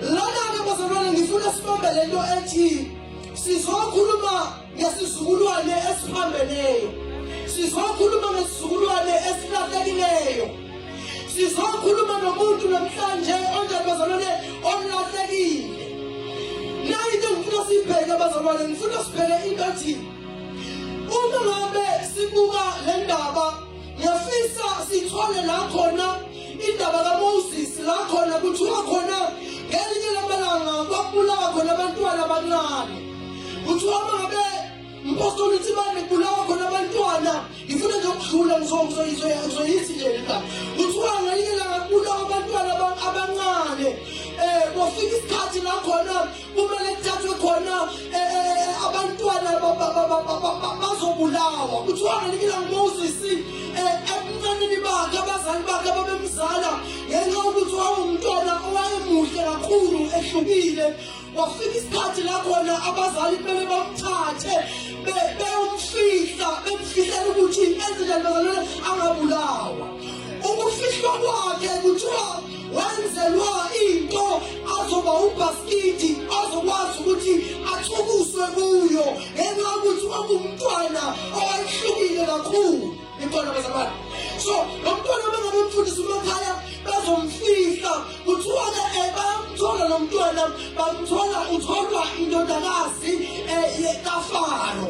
Lana-ke bazalwane ngifuna sibambe le nto ethi sizokhuluma ngesizukulwane esiphambeneyo sizokhuluma ngesizukulwane esilahlekileyo sizokhuluma nomuntu namhlanje onjani bazalwane olahlekile nayo into ngifuna siyibheke bazalwane ngifuna sibheke into ethi uma ngabe sibuka le ndaba ngiyafisa sithole la khona indaba kaMoses la khona kuthiwa khona ngelinye lamalanga kwabulawa khona abantwana abancane kuthiwa uma ngabe mpostoli uthi bane kubulawa khona abantwana ngifuna nje ukudlula ngizoyithi nje lena kuthiwa ngelinye langa kubulawa abantwana abancane um kwafika isikhathi la khona kumele kuthathwe khona eh, eh, eh, abantwana bazobulawa kuthiwa ngelikila ngumoses ebuncanini bakhe abazali bakhe ababemzala ngenxa yokuthi wawumntwana owayemuhle kakhulu ehlukile wafika isikhathi la khona abazali kumele bamthathe beyomfihla bemfihlela ukuthi enze njani bazalwane angabulawa ukufihlwa kwakhe kuthiwa wenzelwa into azoba ubhaskidi azokwazi ukuthi athukuswe kuyo ngenxa yokuthi wangumntwana owayehlukile kakhulu ikhona bazalwane so lo mntwana bengabe mfundisa umakhaya bazomfihla kuthiwa ke eh, bayamthola lo mntwana bamthola utholwa indodakazi um eh, kafaro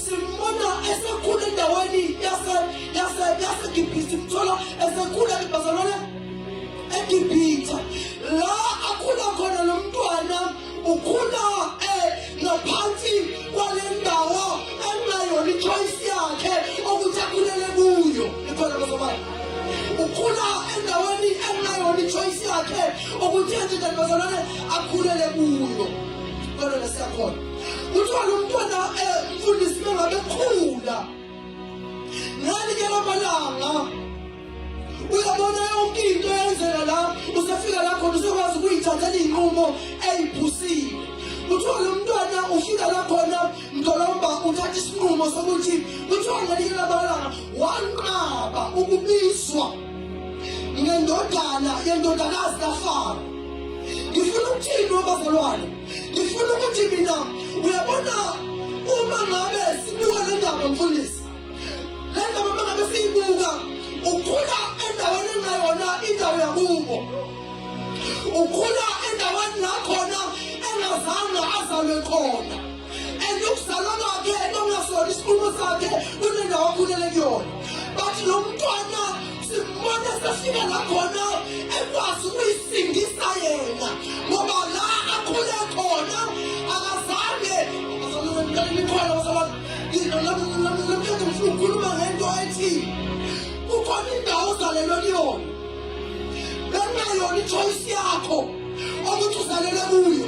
Simbona esekhula endaweni yaseGibhithe, mthola esekhula eBazalwane eGibhithe la akhula khona lo mntwana ukhula eh, ngaphansi kwale ndawo enayona ichoice yakhe ukuthi akhulele kuyo ikhona bazobana ukhula endaweni enayona ichoice yakhe ukuthi enje kanti bazalwane akhulele kuyo kodwa lesiyakhona kuthiwa lo mntwana umfundisi mengabe ekhula ngani ke lamalanga uyabona yonke into eyenzela la usefika la khona usokwazi ukuyithathela iy'nqumo ey'phusile kuthiwa lo mntwana ufika la khona mdolomba uthatha isinqumo sokuthi kuthiwa ngelinye lamalanga wanqaba ukubizwa ngendodana yendodakazi kafaro ngifuna ukuthini wabazalwane ngifuna ukuthi mina uyabona uma ngabe sibuka le ndaba mfundisi le ndaba uma ngabe siyibuka ukhula endaweni engayona indawo yakubo ukhula endaweni la khona engazange azalwe khona and ukuzalwa kwakhe nokungasona isikhulumo sakhe kunendawo akhulele kuyona bathi lo mntwana Simbona sefika la khona ekwazi ukuyisindisa yena ngoba la akhule khona akazange nikhona basabantu namhlanje ngifuna ukukhuluma ngento ethi kukhona indawo ozalelwe kuyona bengayona ichoyisi yakho ukuthi uzalelwe kuyo